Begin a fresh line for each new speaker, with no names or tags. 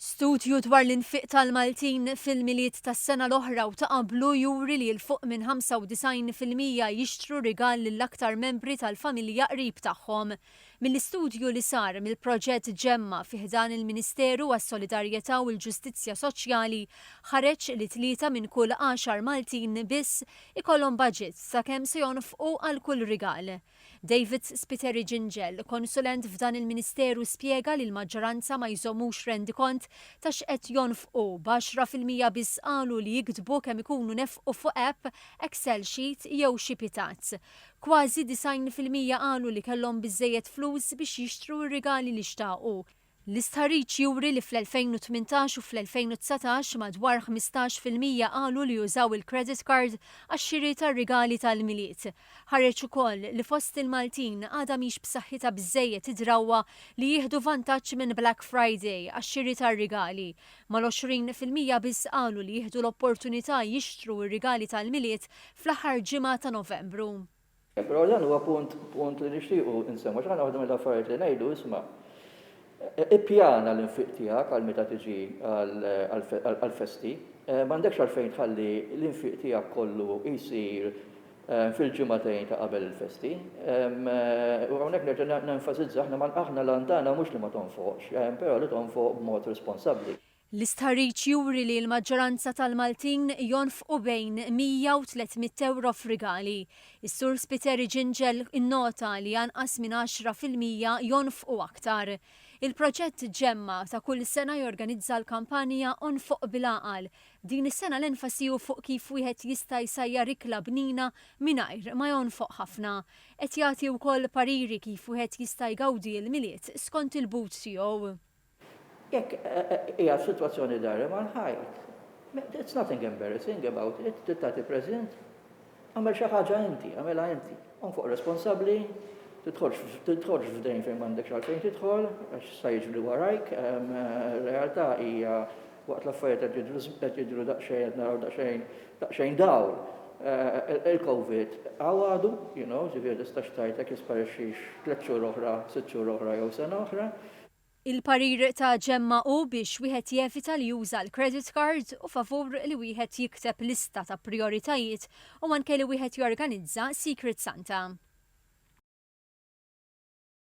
Studju dwar l-infiq tal-Maltin fil-Milied tas-sena l-oħra u ta' qablu juri li 'l fuq minn 95 fil-mija jixtru rigal lill-aktar membri tal-familja qrib tagħhom. Mill-istudju li sar mill-proġett Ġemma fi ħdan il-Ministeru għas-Solidarjetà u l-Ġustizzja Soċjali ħareġ li tlieta minn kull għaxar Maltin biss ikollhom baġit ta' kemm se jonfqu għal kull rigal. David Spiteri Gingell, konsulent f'dan il-Ministeru spjega li l-maġġoranza ma jżommux rendikont ta' x'qed jonfqu, b'għaxra fil-mija biss qalu li jiktbu kemm ikunu nefqu fuq app, excel sheet jew xi pitazz. Kważi disgħin fil-mija qalu li kellhom biżżejjed flus biex jixtru r-rigali li xtaqu. L-istħarriġ juri li fl-2018 u fl-2019 madwar ħmistax fil-mija qalu li użaw il-credit card għax-xiri tar-rigali tal-Milied. Ħareġ ukoll li fost il-Maltin għadha mhix b'saħħitha biżżejjed id-drawwa li jieħdu vantaġġ minn Black Friday għax-xiri tar-rigali, mal-għoxrin fil-mija biss qalu li jieħdu l-opportunità jixtru r-rigali tal-Milied fl-aħħar ġimgħa ta' Novembru. Però dan huwa punt, punt li nixtiequ nsemmu għax aħna waħda mill-affarijiet li ngħidu isma' ippjana l-infiq tiegħek għal meta tiġi għall-festi. M'għandekx għalfejn tħalli l-infiq tiegħek kollu jsir fil-ġimagħtejn ta' qabel il-festi. U hawnhekk nerġa' nenfasizza aħna l-għan tagħna mhux li ma tonfoqx, però li tonfoq b'mod responsabbli. L-istħarriġ juri li l-maġġoranza tal-Maltin jonfqu bejn 100 u 300 ewro f'rigali. Is-Sur Spiteri Ġinġel innota li anqas minn għaxra fil-mija jonfqu aktar. Il-proġett Ġemma ta' kull sena jorganizza l-kampanja Onfoq bil-Għaqal. Din is-sena l-enfasi hu fuq kif wieħed jista' jsajjar ikla bnina mingħajr ma jonfoq ħafna. Qed jagħti wkoll pariri kif wieħed jista' jgawdi l-Milied skont il-but tiegħu. Jekk hija sitwazzjoni dgħarem għall-ħajt, it's nothing embarrassing about it, trid tagħti preżent, agħmel xi ħaġa inti, agħmilha inti. Kun fuq responsabbli, tidħolx f'dejn fejn m'għandekx għalfejn tidħol, għax sta jiġri warajk, realtà hija waqt l-affarijiet qed jidhru daqsxejn qed naraw daqsxejn daqsxejn dawl. Il-Covid hawn għadu, you know, ġifieri tistax tgħid jekk jisparixxix tliet xhur oħra, sitt xhur oħra jew sena oħra. Il-parir ta' Gemma hu biex wieħed jevita li juża l-credit card u favur li wieħed jikteb lista ta' prijoritajiet u anke li wieħed jorganizza Secret Santa.